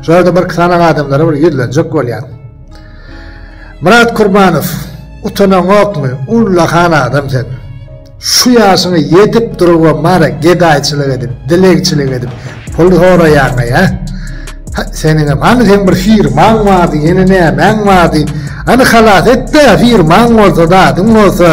Şu ýerde bir sanan adamlara bir ýüzlenjek bolýan. Myrat Kurbanow, utanaňokmy? Ullakan adam sen. Şu ýaşyňy ýetip durup we mara gedaýçylyk edip, dilegçilik edip, pul soraýaňa ýa. Seniň hem hany sen bir firmaň bardy, ýene nämäň bardy? Hany halas etde, firmaň bolsa, zadyň bolsa.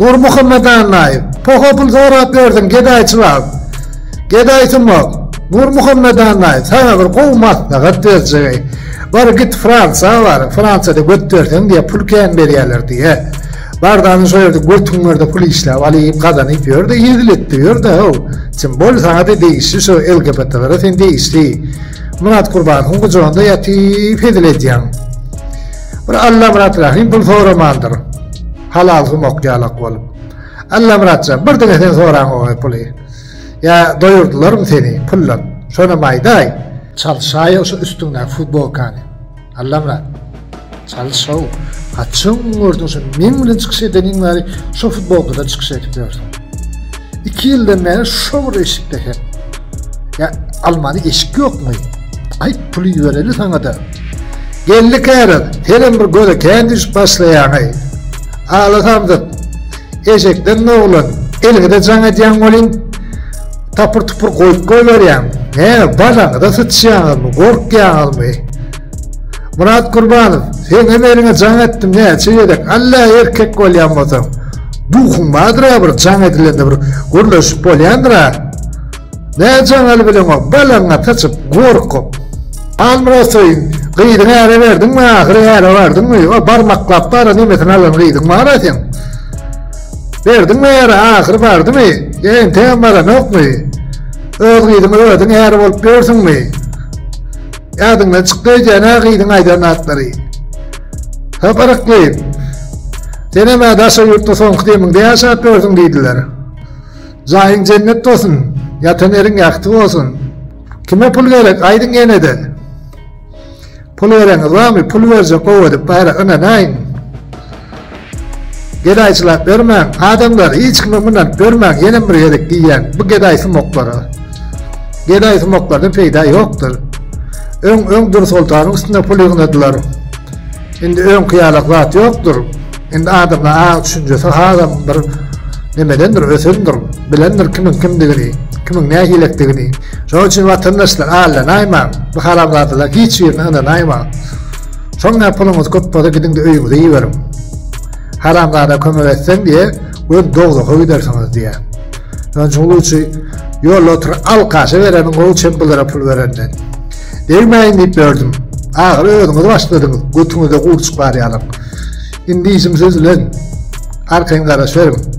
Nur Muhammedannaýew, poha pul sorap ýördün, gedaýçylyk. Gedaýsumak, Nurmuhammet annaý, saňa bir gowy maslahat berjegi, bar git Fransa bar, Fransada göt berseň diýe pul kän berýäler diýe. Bardan şo ýerde götüň bar-da pul işläp alyp, gazanyp ýör-de, ýeziletde ýör-de how. Çyn bol saňa-da degişli şo LGBT-lere sen degişli. Myrat Gurbanowyn gujagynda ýatyp hezil edýäň. Bir Allamyrat Rahym pul soramandyr. Halal sumak ýalak bolup. Allamyrat jan, bir diňe sen soraňogaý puly. Ýa doýurdylarmy seni pullap? Şonam aýdaý! Çalyşaýa şu üstüňdäki futbolkany. Allamyrat. Çalyş-ow. Haçan gördüň şuny? Meň bilen çykyş edeniň bäri şu futbolkada çykyş edip ýörsüň. Iki ýyldan bäri şo bir eşikde her. Ýa almany eşik ýokmy? Aý puly ýöreli saňa-da. Geldi käret. Senem bir göze kän düşüp başlaýaňy. Ala samsyk. Eşekden doglan. Eliňize jaň edýäň welin, tapyr-tupur goýup goýberýäň. Hä, balaňyza syçýaňyzmy, gorkýaňyzmy? Myrat Gurbanow, Seň hem eliňe jaň etdim näçe gezek. Alla erkek bolýan bolsaň, duhuň bardyr-a bir jaň edilende bir gürleşip bolýandyr-a. Nä jaňaly bileňok, balaňa saçyp, gorkup. Halmyrat söýün, gyzyňy äre berdiňmi, ahyry äre bardyňmy, o barmaklap baran emesini alan gyzyň bar-a seň. Berdiňmi äre, ahyry bardymy, ýa entegem baranokmy? Öz gyzyňy özüň äre bolup ýörsüňmi? Ýadyňdan çykdy öýdýän-ä gyzyň aýdan zatlary. Haparykly. Senem-ä daşary ýurtda soňky demiňde ýaşap ýörsüň diýdiler. Jaýyň jennet bolsun ýatan ýeriň ýagty bolsun. Kime pul gerek aýdyň ýenede. Pul bereňiz barmy pul berjek gowy edip bara ynanaýyň. Gedaýçylap bermäň adamlar hiç kime mynanyp bermäň ýenem bir gezek diýýän bu gedaý sumoklara. Gedaý sumoklardan peýda ýokdur. Öň öň Dursoltanyň üstüne pul ýygnadylar. Indi öňki ýalak zat ýokdur. Indi adamda aň düşünjesi hasam bir nemedendir, ösendir, bilendir kimiň kimdigini, kimiň nähilekdigini. Şonuň üçin watandaşlar allanaýmaň, bu haramzadalaryň hiç birine ynanaýmaň. Soňra puluňyz köp bolsa gidiňde öýüňize iberiň. Haramzada kömek etseň diýe, göz dogzaka gidersiňiz diýe. Şonuň üçin ýolda oturyp alkaşa bereniň gowy çem bulara pul berenden. Degmäýin diýip ýördüm. Ahyry özüňiz başladyňyz, götüňize gurçuk barýalam. Indi işim siz bilen. Arkaýyn garaşyberin.